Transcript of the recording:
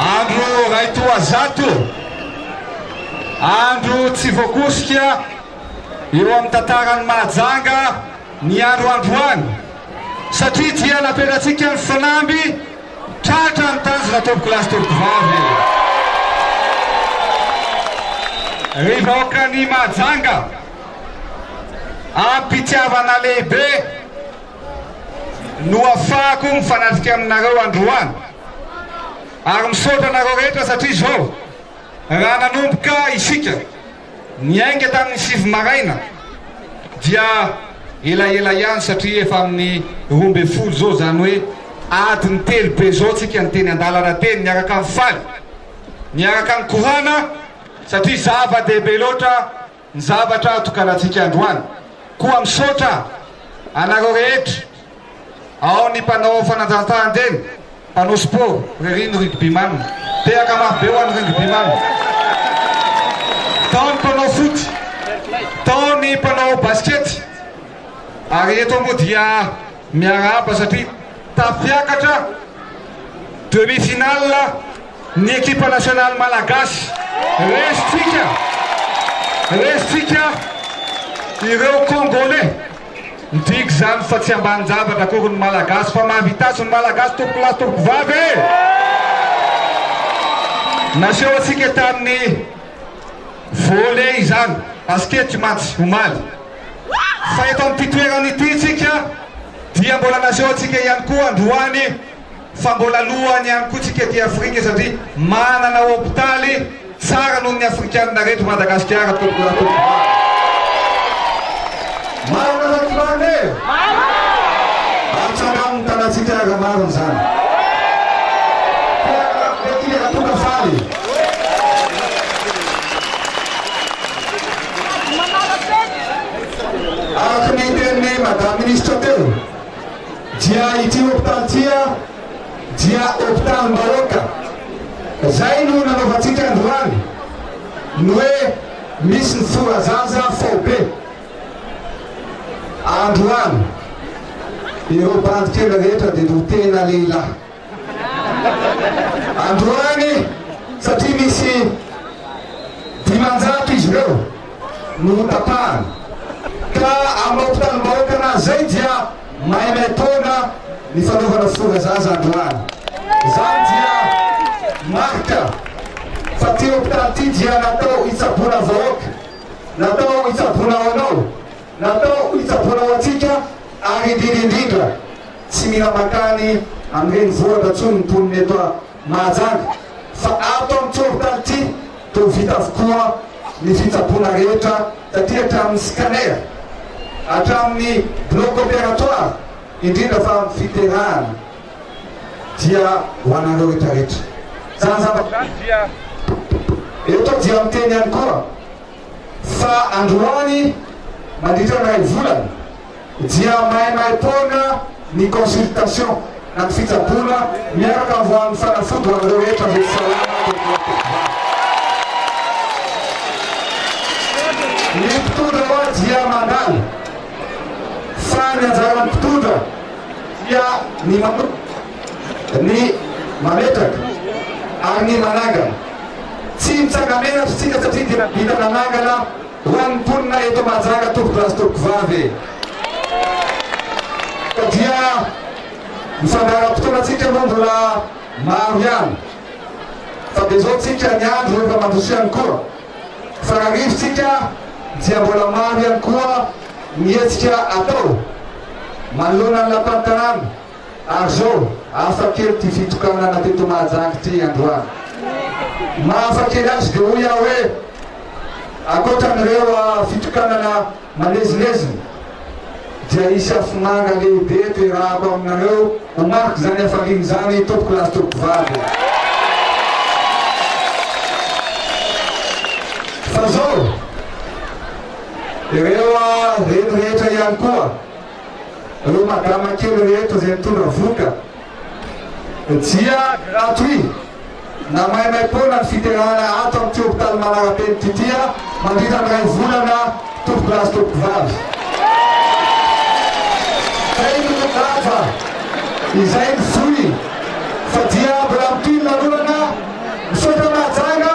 Andro ray toa zato, andro tsy voakosika eo amin'ny tantaran'i Mahajanga ny andro androany satria dia napetratsika ny fanamby tratra ny tanjona tompoko lahy sy tompoko vavy. Ry vahoakan'i Mahajanga, am-pitiavana lehibe, no afahako mifanafika aminareo androany ary misaotra anareo rehetra satria zao raha nanomboka isika niainga tamin'ny sivy maraina dia elaela ihany satria efa amin'ny roa ambin'ny folo zao zany hoe adiny telo be zao tsika ny teny andalana teny miaraka amin'ny faly miaraka ny korana satria zava-dehibe loatra Ny zavatra atokanantsika androany. Koa misaotra anareo rehetra, ao ny mpanao fanatanjahantena, mpanao sport, ry ny rugbyman. Tehaka mafy be ho an'ny rugbyman. Tao ny mpanao foot, tao ny mpanao basikety. Ary eto moa dia miarahaba satria tafiakatra demi-finale. Ny ekipa nasionaly malagasy. Resintsika, resintsika ireo Kongolais. Midika izany fa tsy ambanin-javatra akory ny Malagasy fa mahavita azy ny Malagasy tompokolahy sy tompokovavy e! Naseho antsika tamin'ny volley izany, basikety mantsy, omaly. Fa eto amin'ity toerana ity isika dia mbola naseho antsika ihany koa androany. Fa mbola lohany ihany koa tsika aty Afrika satria manana hopitaly tsara noho ny afrikanina reto i Madagasikara tompoko raha tompoko marina. Marina sa tsy marina e? Atsangano ny tanantsika raha marina izany. Fiaraha-miaraka be tsika raha tonga faly. Araka ny tenin'i Madame Ministra teo. dia ity hopitaly ity dia hopitalim-bahoaka, izay no nanaovantsika androany ny hoe misy ny fora zaza faobe. Androany ireo bandy kely rehetra dia no tena lehilahy. Androany satria misy dimanjato izy ireo no notapahana ka aminao mpitaribahoaka anazy zay dia maimaitaona ny fanaovana fotoana zaza androany zany dia marika fa ty hopitaly ty dia natao hitsaboana vahoaka natao hitsaboana ao anao Natao hitsaboana ho antsika ary indrindra indrindra tsy mila mankany amin'ny renivohitra intsony ny mponina eto Mahajanga fa ato amin'ny tsorin-tany ity dia ho vita avokoa ny fitsaboana rehetra taty hatramin'ny scanner hatramin'ny bloc opératoire indrindra fa ny fiterahana dia ho anareo rehetra rehetra. Izany zavatra izany dia eto dia miteny ihany koa. fa androany mandritra ny iray volana dia maimaim-poana ny consultation na ny fitsaboana miaraka avy ho amin'ny fanafody ho an'ireo rehetra voatsy salama teto Matoa. Ny mpitondra hoa dia mandala fa ny anjaran'ny mpitondra dia ny manomboka ny mametraka ary ny manangana. Tsy mitsanga-menatra isika satria dia vita nanangana ho an'ny mponina eto Mahajanga tompokolahy sy tompokovavy e! Ka dia ny fandaharam-potoanantsika moa mbola maro ihany fa dia izao isika ny andro efa mandroso ihany koa. Fararivo isika dia mbola maro ihany koa ny hetsika atao manoloana ny lapan'ny tanàna. Ary zao, hafa kely ity fitokanana teto Mahajanga ity androany. Ny maha hafa kely azy dia hoy aho hoe, ankoatran'ireo fitokanana malezilezina dia hisy afomanga lehibe eto iarahako aminareo ho mariky izany hafaliana izany tompoko lahy sy tompoko vavy e! Fa zao, ireo reny rehetra ihany koa, ireo madama kely rehetra izay mitondra vohoka dia gratuit na maimaim-poana ny fiterahana ato amin'ity hopitaly Manarapenitra ity mandritra ny iray volana tompokolahy sy tompokovavy. Izay no laza, izay ny vohy fa dia mbola mitohy ny lanonana. Misaotra Mahajanga.